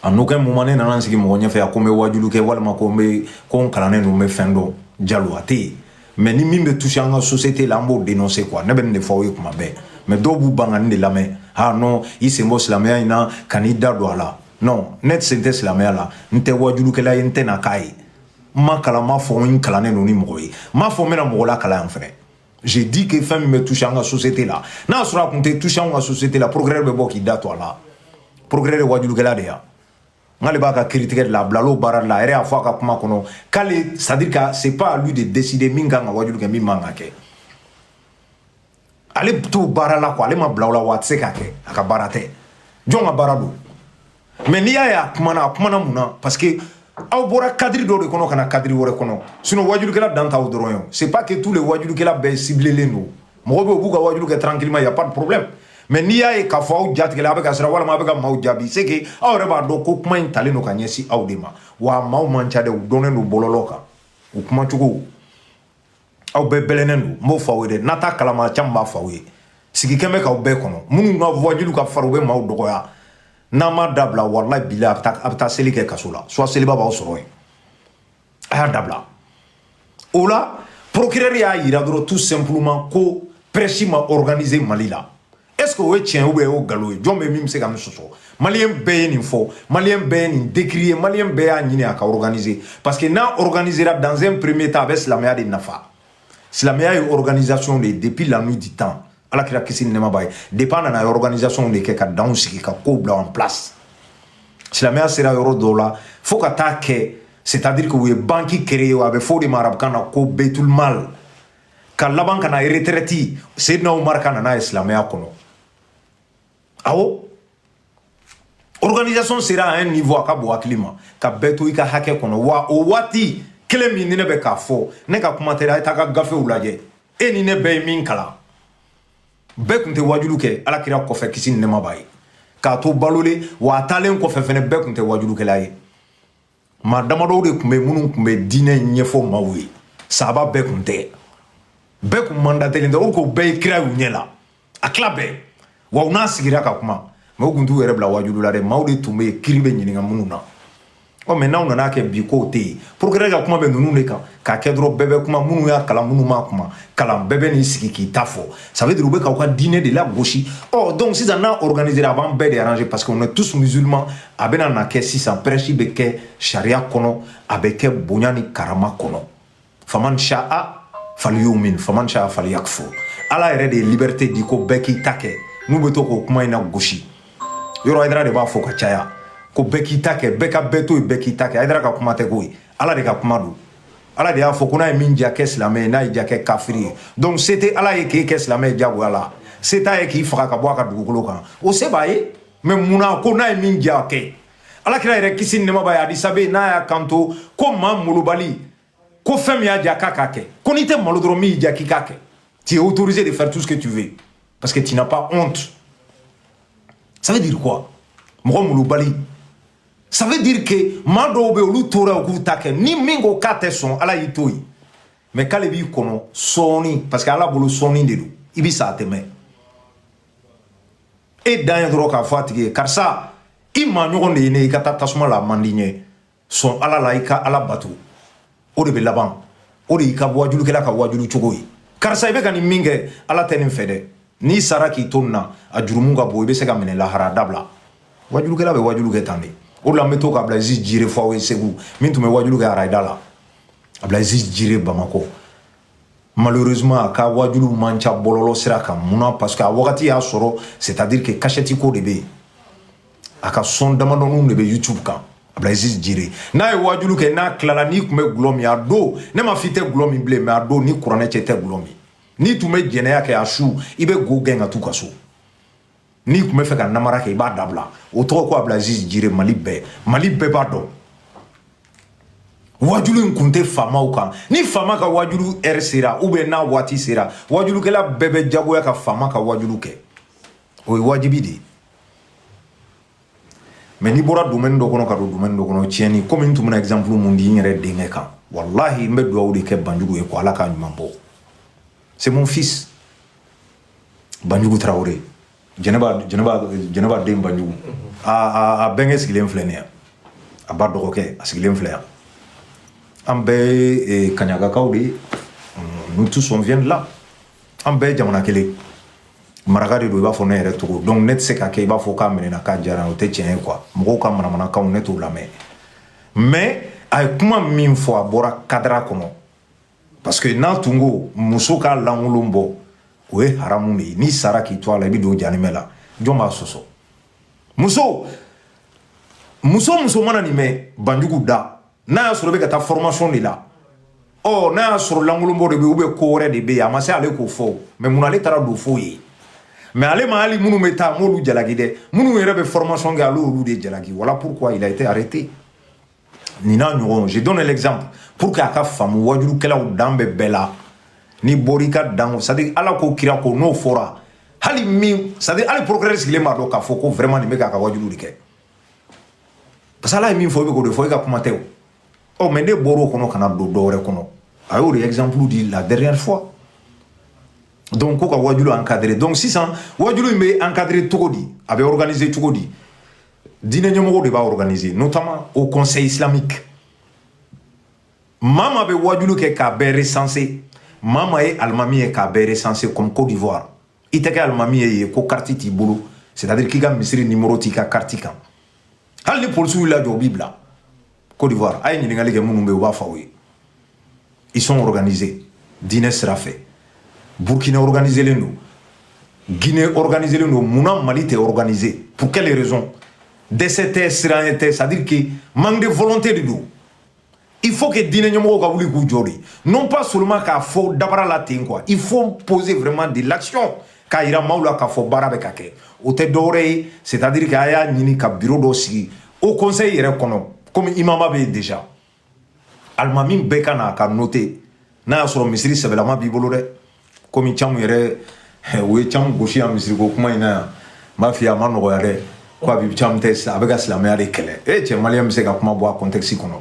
en aucun moment ne nana n sigi mɔgɔ ɲɛfɛ a ko n bɛ waajulu kɛ walima ko n bɛ ko n kalannen don n bɛ fɛn dɔn jalo a tɛ yen mais ni min bɛ toucher an ka société la an b'o dénoncer quoi ne bɛ nin de fɔ aw ye kuma bɛɛ mais dɔw b'u ban ka nin de lamɛn ah non i sen bɔ silamɛya in na kan'i da don a la non ne sen tɛ silamɛya la n tɛ waajulukɛla ye n tɛ na k'a ye n ma kalan n m'a fɔ n kalannen don ni mɔgɔ ye n m'a fɔ n bɛna mɔgɔ lakalan yan fɛnɛ j'ai dit que fɛn min bɛ toucher an ka société la n'a sɔrɔ a tun tɛ toucher an ka société la procureur bɛ bɔ k'i da don a la procureur tɛ wajulukɛla de ye nk'ale b'a ka kiritigɛ de la a bilal'o baara de la a yɛrɛ y'a fɔ a ka kuma kɔnɔ k'ale c'est à dire que c'est pas à lui de décider min kan ka wajulu kɛ min man ka kɛ ale t'o baara la quoi ale ma bila o la wa a tɛ se k'a kɛ a ka baara tɛ jɔn ka baara don mais n'i y'a ye a kumana a kumana mun na parce que aw bɔra cadre dɔ de kɔnɔ ka na cadre wɛrɛ kɔnɔ sinon wajulukɛla dan t'aw dɔrɔn ye c'est pas que tous les wajulukɛla bɛɛ ciblélen don mɔgɔ bɛ yen u b'u ka wajulu kɛ tranquillement il y a pas de problème mais n'i y'a ye k'a fɔ aw jatigɛla a bɛ ka siran walima a bɛ ka maaw jaabi c'est que aw yɛrɛ b'a dɔn ko kuma in talen don ka ɲɛsin aw de ma wa maaw man ca dɛ u dɔnnen don bɔlɔlɔ kan u kumacogo aw bɛɛ bɛlɛnnen don n b'o fɔ aw ye dɛ n'a t'a kalama caman b'a fɔ aw ye sigi kɛn bɛ k'aw bɛɛ kɔnɔ minnu ka wajulu ka farin u bɛ maaw dɔgɔya n'a ma dabila walahi bilahi a bɛ taa seli kɛ kaso la soit seliba b'aw sɔrɔ yen a y'a dabila o la procureur y'a yira dɔrɔn tout simplement ko prêche ma organiser mali la est-ce que o ye tiɲɛ ou bien o ye nkalon ye jɔn bɛ min bɛ se ka nin sɔsɔ maliyɛn bɛɛ ye nin fɔ maliyɛn bɛɛ ye nin décrier maliyɛn bɛɛ y'a ɲini a ka organiser parce que n'a organisera dans un premier temps a bɛ silamɛya de nafa silamɛya ye organisation de ye depuis la nuit du temps ala kira kisi ni nɛɛma b'a ye depuis a nana a ye organisation de kɛ ka danw sigi ka kow bila en place silamɛya sera yɔrɔ dɔw la fo ka taa kɛ c'est à dire que u ye banki créer a bɛ fɔ o de ma arabukan na ko beitul mal ka laban ka na retraite Seydina Umaru ka na n'a ye silamɛya kɔnɔ awɔ organisation sera à un niveau a ka bon hakili ma ka bɛɛ to i ka hakɛ kɔnɔ wa o waati kelen min ni ne bɛ k'a fɔ ne ka kuma tɛ a ye taa ka gafew lajɛ e ni ne bɛɛ ye min kalan bɛɛ tun tɛ wajulu kɛ ala kira kɔfɛ kisi ni nɛɛma b'a ye k'a to balolen wa a taalen kɔfɛ fɛnɛ bɛɛ tun tɛ wajulukɛla ye maa damadɔw de tun bɛ minnu tun bɛ diinɛ ɲɛfɔ maaw ye sahaba bɛɛ tun tɛ bɛɛ tun mandatelen tɛ o ko bɛɛ ye kira y'u ɲɛ la a tila bɛɛ wa u n'a sigira ka kuma mɛ u tun t'u yɛrɛ bila wajulu la dɛ maaw de tun bɛ yen kiri bɛ ɲininka minnu na ɔ mais n'aw nana kɛ bi k'o tɛ yen procureur ka kuma bɛ ninnu de kan k'a kɛ dɔrɔn bɛɛ bɛ kuma minnu y'a kalan minnu m'a kuma kalan bɛɛ bɛ n'i sigi k'i ta fɔ ça veut dire u bɛ k'aw ka diinɛ de lagosi ɔ donc sisan n'a organisera a b'an bɛɛ de arranger parce qu'on est tous musulmans a bɛna na kɛ sisan prêche bɛ kɛ sariya kɔnɔ a bɛ kɛ bonya ni karama kɔnɔ faman sha'a falyumin faman sha'a falyakfur ala yɛrɛ de ye liberté di ko bɛɛ k'i ta kɛ n'u bɛ to k'o kuma in nagosi yɔrɔ haidara de b'a fɔ ka caya ko bɛɛ k'i ta kɛ bɛɛ ka bɛɛ to yen bɛɛ k'i ta kɛ haidara ka kuma tɛ ko ye ala de ka kuma don ala de y'a fɔ ko n'a ye min ja kɛ silamɛ ye n'a ye ja kɛ kafiri ye donc se tɛ ala ye k'e kɛ silamɛ ye jagoya la se t'a ye k'i faga ka bɔ a ka dugukolo kan o se b'a ye mais mun na ko n'a ye min ja kɛ alakira yɛrɛ kisi ni nɛɛma b'a ye hadisa bɛ yen n'a y'a kanto ko maa malobali ko fɛn min y'a ja k'a k'a kɛ ko n'i tɛ malo dɔrɔn min y'i ja k'i k'a kɛ tu es autorisé de faire tout ce que tu veux parce que tu n'as pas honte ça veut dire quoi mɔgɔ malobali ça veut dire que maa dɔw bɛ yen olu tora u k'u ta kɛ ni min ko k'a tɛ sɔn ala y'i to yen mais k'ale b'i kɔnɔ sɔɔni parce que ala bolo sɔɔni de don i bɛ sa a tɛ mɛɛn e dan ye dɔrɔn k'a fɔ a tigi ye karisa i maa ɲɔgɔn de ye ne i ka taa tasuma la a man di n ye sɔn ala la i ka ala bato o de bɛ laban o de y'i ka wajulukɛla ka wajulu cogo ye karisa i bɛ ka nin min kɛ ala tɛ nin fɛ dɛ n'i sara k'i to nin na a jurumu ka bon i bɛ se ka minɛ lahara dabila wajulukɛla bɛ wajulu kɛ tan de o de la n bɛ to ka abdulaziz jire fɔ aw ye segu min tun bɛ wajulu kɛ arayida la abdulaziz jire bamakɔ malheureusement a ka wajulu man ca bɔlɔlɔ sira kan mun na parce que a wagati y'a sɔrɔ c'est à dire que kasɛti ko de bɛ yen a ka son damadɔninw de bɛ youtube kan abdulaziz jire n'a ye wajulu kɛ n'a tilala n'i tun bɛ gulɔ min a don ne ma f'i tɛ gulɔ min bilen mais a don ni kuranɛ cɛ tɛ gulɔ min n'i tun bɛ jɛnɛya kɛ a su i bɛ go gɛn ka t'u ka so n'i tun bɛ fɛ ka namara kɛ i b'a dabila o tɔgɔ ko abdulaziz jire mali bɛɛ mali bɛɛ b'a dɔn wajulu in kun tɛ faamaw kan ni faama ka wajulu heure sera ou bien n'a waati sera wajulukɛla bɛɛ bɛ jagoya ka faama ka wajulu kɛ o ye wajibi de ye mais n'i bɔra domaine dɔ kɔnɔ ka don domaine dɔ kɔnɔ tiɲɛni komi n tun bɛna exemple min di n yɛrɛ denkɛ kan walahi n bɛ dugawu de kɛ banjugu ye ko ala k'a ɲuman bɔ c'est mon fils banjugu tarawele jɛnɛba jɛnɛba jɛnɛba den banjugu a a a bɛnkɛ sigilen filɛ nin ye a ba dɔgɔkɛ a sigilen filɛ yan an bɛɛ ye kaɲagakaw de ye nous tous on vient de là an bɛɛ jamana kelen maraka de don i b'a fɔ ne yɛrɛ cogo donc ne tɛ se ka kɛ i b'a fɔ k'a minɛna k'a diyara o tɛ tiɲɛ ye quoi mɔgɔw ka manamanakanw ne t'o lamɛn mais a ye kuma min fɔ a bɔra kadara kɔnɔ parce que n'a tun ko muso ka lankolon bɔ o ye haramu de ye n'i sara k'i to a la i bɛ don janimɛ la jɔn b'a sɔsɔ muso muso muso mana nin mɛn banjugu da n'a y'a sɔrɔ i bɛ ka taa formation de la ɔ n'a y'a sɔrɔ lankolonbɔ de bɛ yen ou bien ko wɛrɛ de bɛ yen a ma se ale k'o fɔ mais mun ale taara don f'o ye mais ale ma hali minnu bɛ taa m'olu jalaki dɛ minnu yɛrɛ bɛ formation kɛ ale y'olu de jalaki voilà pourquoi il a été arrêté nin n'a ɲɔgɔn je donne l'exemple pour que a ka faamu wajulukɛlaw dan bɛ bɛɛ la n'i bɔra i ka dan o c'est ala ko kira ko n'o fɔra hali min c'est à dire hali procureur sigilen b'a dɔn k'a fɔ ko vraiment nin bɛ k'a ka wajulu de kɛ parce que ala ye min fɔ i bɛ k'o de fɔ i ka kuma tɛ o ɔ mais n'i bɔra o kɔnɔ ka na don dɔ wɛrɛ kɔnɔ a y'o de exemple di la dernière fois donc ko ka wajulu encadrer donc sisan wajulu in bɛ encadrer cogo di a bɛ organiser cogo di diinɛ ɲɛmɔgɔw de b'a organiser notamment haut conseil islamique maa maa bɛ wajulu kɛ k'a bɛɛ recenser maa maa ye alimami ye k'a bɛɛ recenser comme Côte d'Ivoire i tɛ kɛ alimami ye yen ko carte t'i bolo c'est à dire k'i ka misiri numéro t'i ka carte kan hali ni polisiw y'i lajɔ u b'i bila Côte d'Ivoire a ye ɲininkali kɛ minnu bɛ yen u b'a fɔ aw ye ils sont organisés diinɛ sira fɛ Burkina organiselen don Guinée organiselen don mun na Mali tɛ organisé pour quelle raison dɛsɛ tɛ siranya tɛ c'est à dire que manque de volonté de don il faut que diinɛ ɲɛmɔgɔw ka wuli k'u jɔ de non pas seulement k'a fɔ dabara la ten quoi il faut poser vraiment de l'action k'a yira maaw la k'a fɔ baara bɛ ka kɛ o tɛ dɔwɛrɛ ye c'est à dire que a y'a ɲini ka biro dɔ sigi haut conseil yɛrɛ kɔnɔ komi imama bɛ yen déjà alimami bɛɛ ka na ka noter n'a y'a sɔrɔ misiri sɛbɛlama b'i bolo dɛ komi camu yɛrɛ u ye camu gosi yan misiriko kuma in na yan n b'a f'i ye a ma nɔgɔya dɛ ko a bɛ camu tɛ a bɛ ka silamɛya de kɛlɛ e cɛ maliyɛn bɛ se ka kuma bɔ a contexte kɔnɔ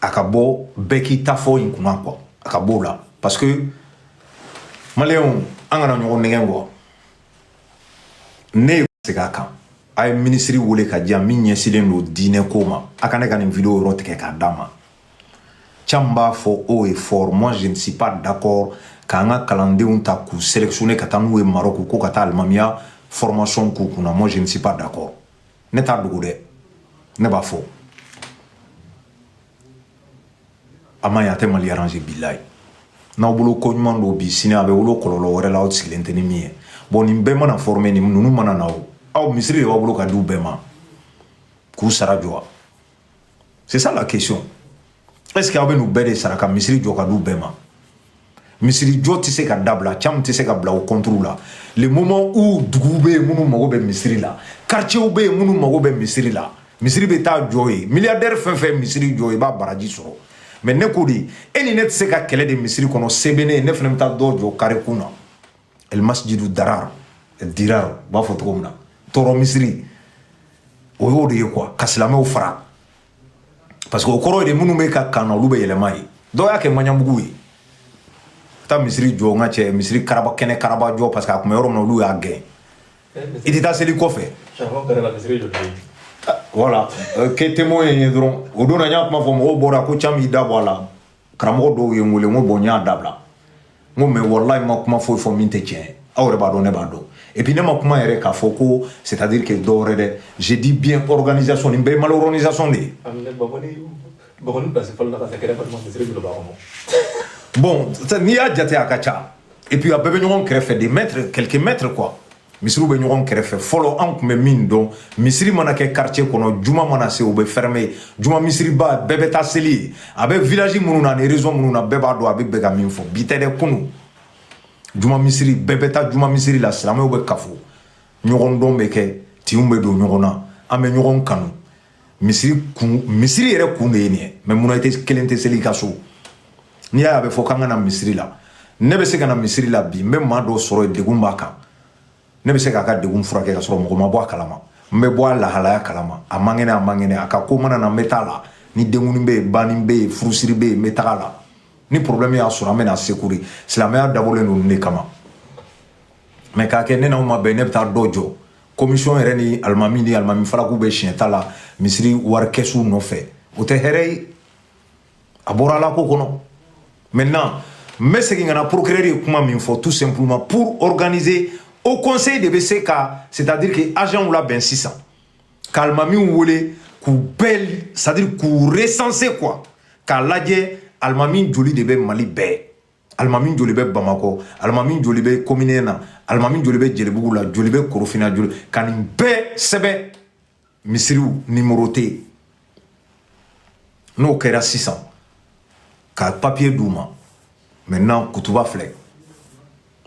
a ka bɔ bɛɛ k'i ta fɔ in kunna quoi a ka b'o la parce que maliyɛnw an kana ɲɔgɔn nɛgɛn quoi ne ye segin a kan a ye minisiri wele ka di yan min ɲɛsilen don diinɛ ko ma a ka ne ka nin vidéo yɔrɔ tigɛ k'a d'a ma k'an b'a fɔ haut et fort moi je ne suis pas d'accord k'an ka kalandenw ta k'u sélectionner ka taa n'u ye Maroc ko ka taa alimamiya formation k'u kunna moi je ne suis pas d'accord ne t'a dogo dɛ ne b'a fɔ a man ɲi a tɛ mali arranger bilayi n'aw bolo ko ɲuman don bi sini a bɛ wolo kɔlɔlɔ wɛrɛ la aw sigilen tɛ ni min ye bon nin bɛɛ mana former ni ninnu mana na o aw misiri de b'a bolo ka di u bɛɛ ma k'u sara jɔ wa c'est ça la question est ce que aw bɛ n'u bɛɛ de sara ka misiri jɔ ka d'u bɛɛ ma misiri jɔ tɛ se ka dabila caman tɛ se ka bila o contre la le moment où duguw bɛ yen minnu mago bɛ misiri la quartierw bɛ yen minnu mago bɛ misiri la misiri bɛ taa jɔ yen milliardaire fɛn fɛn misiri jɔ i b'a baraji sɔrɔ mais ne ko de e ni ne tɛ se ka kɛlɛ de misiri kɔnɔ se bɛ ne ye ne fana bɛ taa dɔ jɔ carré kun na el masjidu darar el dirar u b'a fɔ cogo min na tɔɔrɔ misiri o y'o de ye quoi ka silamɛw fara parce que o kɔrɔ ye de minnu bɛ ka kan na olu bɛ yɛlɛma yen dɔw y'a kɛ maɲanbugu ye taa misiri jɔ n ka cɛ misiri karaba kɛnɛ karaba jɔ parce que a tun bɛ yɔrɔ min na olu y'a gɛn i tɛ taa seli kɔfɛ voilà kɛ témoin ye dɔrɔn o don na n y'a kuma fɔ mɔgɔw bɔra ko can b'i da bɔ a la karamɔgɔ dɔw ye n wele n ko bon n y'a dabila n ko mais walayi n ma kuma foyi fɔ min tɛ tiɲɛ ye aw yɛrɛ b'a dɔn ne b'a dɔn et puis ne ma kuma yɛrɛ k'a fɔ ko c'est à dire que dɔw wɛrɛ dɛ je dis bien organisation nin bɛɛ ye mal organisation de ye bon n'i y'a jate a ka ca et puis a bɛɛ bɛ ɲɔgɔn kɛrɛfɛ des mètres quelques mètres quoi misiriw bɛ ɲɔgɔn kɛrɛfɛ fɔlɔ an tun bɛ min dɔn misiri mana kɛ quartier kɔnɔ juma mana se u bɛ fermer juma misiriba bɛɛ bɛ taa seli yen a bɛ village minnu na ani région minnu na bɛɛ b'a dɔn a bɛ bɛ ka min fɔ bi tɛ dɛ kunun juma misiri bɛɛ bɛ taa juma misiri la silamɛw bɛ kafo ɲɔgɔn dɔn bɛ kɛ tin bɛ don ɲɔgɔn na an bɛ ɲɔgɔn kanu misiri kun misiri yɛrɛ kun de ye nin ye mais munna i tɛ kelen tɛ seli i ka so n'i y'a ye a bɛ fɔ k'an ka na misiri la ne bɛ se ka na misiri la bi n bɛ maa dɔ sɔrɔ yen degun b'a kan ne bɛ se k'a ka degun furakɛ ka sɔrɔ mɔgɔ ma bɔ a kalama n bɛ bɔ a lahalaya kalama a man kɛnɛ a man kɛnɛ a ka ko mana na n bɛ taa la ni denkundi bɛ yen banni bɛ yen furusiri bɛ yen n bɛ taga la ni problème y'a sɔrɔ an bɛ na secours silamɛya dabɔlen don nin de kama mais k'a kɛ ne n'aw ma bɛn ne bɛ taa dɔ jɔ commission yɛrɛ ni alimami ni alimami falaku bɛ siɲɛ ta la misiri wari kɛsu nɔfɛ o tɛ hɛrɛ ye a bɔra ala ko kɔnɔ maintenant n bɛ segin ka na procureur ye kuma min fɔ tout simplement pour organiser haut conseil de bɛ se ka c'est à dire que agentw labɛn sisan ka alimamiw wele k'u bɛɛ c'est à dire k'u recenser quoi k'a lajɛ alimami joli de bɛ mali bɛɛ alimami joli bɛ bamakɔ alimami joli bɛ commune na alimami joli bɛ jelibugu la joli bɛ korofina joli ka nin bɛɛ sɛbɛn misiriw numéroter n'o kɛra sisan ka papier d'u ma maintenant kutuba filɛ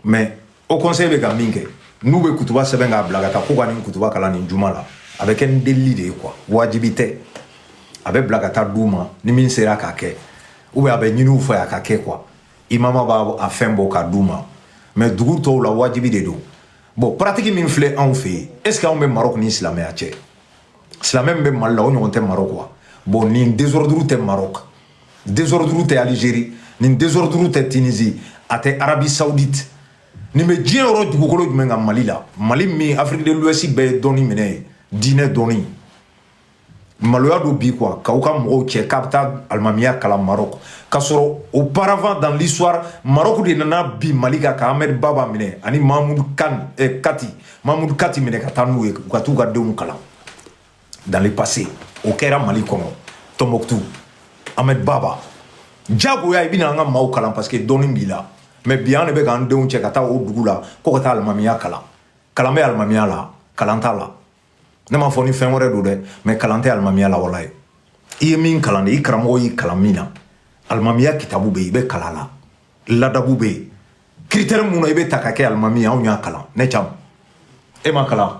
mais haut conseil bɛ ka min kɛ n'u bɛ kutuba sɛbɛn k'a bila ka taa ko ka nin kutuba kalan nin juma la a bɛ kɛ ni delili de ye quoi wajibi tɛ a bɛ bila ka taa d'u ma ni min sera k'a kɛ ou bien a bɛ ɲini u fɛ a ka kɛ quoi imama b'a a fɛn bɔ k'a d'u ma mais dugu tɔw la wajibi de don bon pratique min filɛ anw fɛ yen est ce que anw bɛ maroc ni silamɛya cɛ silamɛ min bɛ mali la o ɲɔgɔn tɛ maroc wa bon nin désordre tɛ maroc désordre tɛ Algérie nin désordre tɛ Tunisie a tɛ Arabie Saoudite nin bɛ diɲɛ yɔrɔ dugukolo jumɛn kan Mali la Mali min Afrique de l'Ouest bɛɛ ye dɔnni minɛ yen diinɛ dɔnni maloya don bi quoi k'aw ka mɔgɔw cɛ k'a bɛ taa alimamiya kalan Maroc k'a sɔrɔ auparavant dans l'histoire Maroc de nana bin Mali kan ka Ahmed Baba minɛ ani Mahmoud Kan eh, Kati Mahmoud Kati minɛ ka taa n'u ye u ka t'u ka denw kalan dans le passé o kɛra mali kɔnɔ tombouctou ahmed baba jagoya i bɛna an ka maaw kalan parce que dɔnni b'i la mais bi an de bɛ k'an denw cɛ ka taa o dugu la ko ka taa alimamiya kalan kalan bɛ alimamiya la kalan t'a la ne m'a fɔ ni fɛn wɛrɛ don dɛ mais kalan tɛ alimamiya la walayi i ye min kalan de i karamɔgɔ y'i kalan min na alimamiya kitabu bɛ yen i bɛ kalan la ladabu bɛ yen critère mun na i bɛ taa ka kɛ alimami ye anw y'a kalan ni caman m'a kalan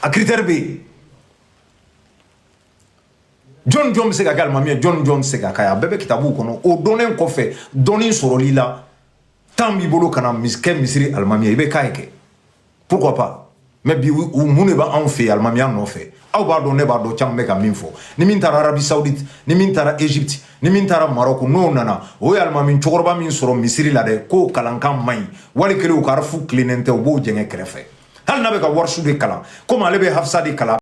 a critère bɛ yen jɔn jɔn bɛ se ka kɛ alimami ye jɔn jɔn bɛ se ka k'a ye a bɛɛ bɛ kitabuw kɔnɔ o dɔnnen kɔfɛ dɔnni sɔrɔli la temps b'i bolo ka na kɛ misiri alimami ye i bɛ k'a ye kɛ pourquoi pas mais bi mun de b'anw fɛ yen alimamiya nɔfɛ aw b'a dɔn ne b'a dɔn caman bɛ ka min fɔ ni min taara arabie saoudite ni min taara egypte ni min taara maroc n'o nana o ye alimami cɛkɔrɔba min sɔrɔ misiri la dɛ k'o kalankan man ɲi wali kelen o ka harafu tilennen tɛ o b'o jɛngɛ kɛrɛfɛ hali n'a bɛ ka warisu de kalan komi ale bɛ hafisa de kalan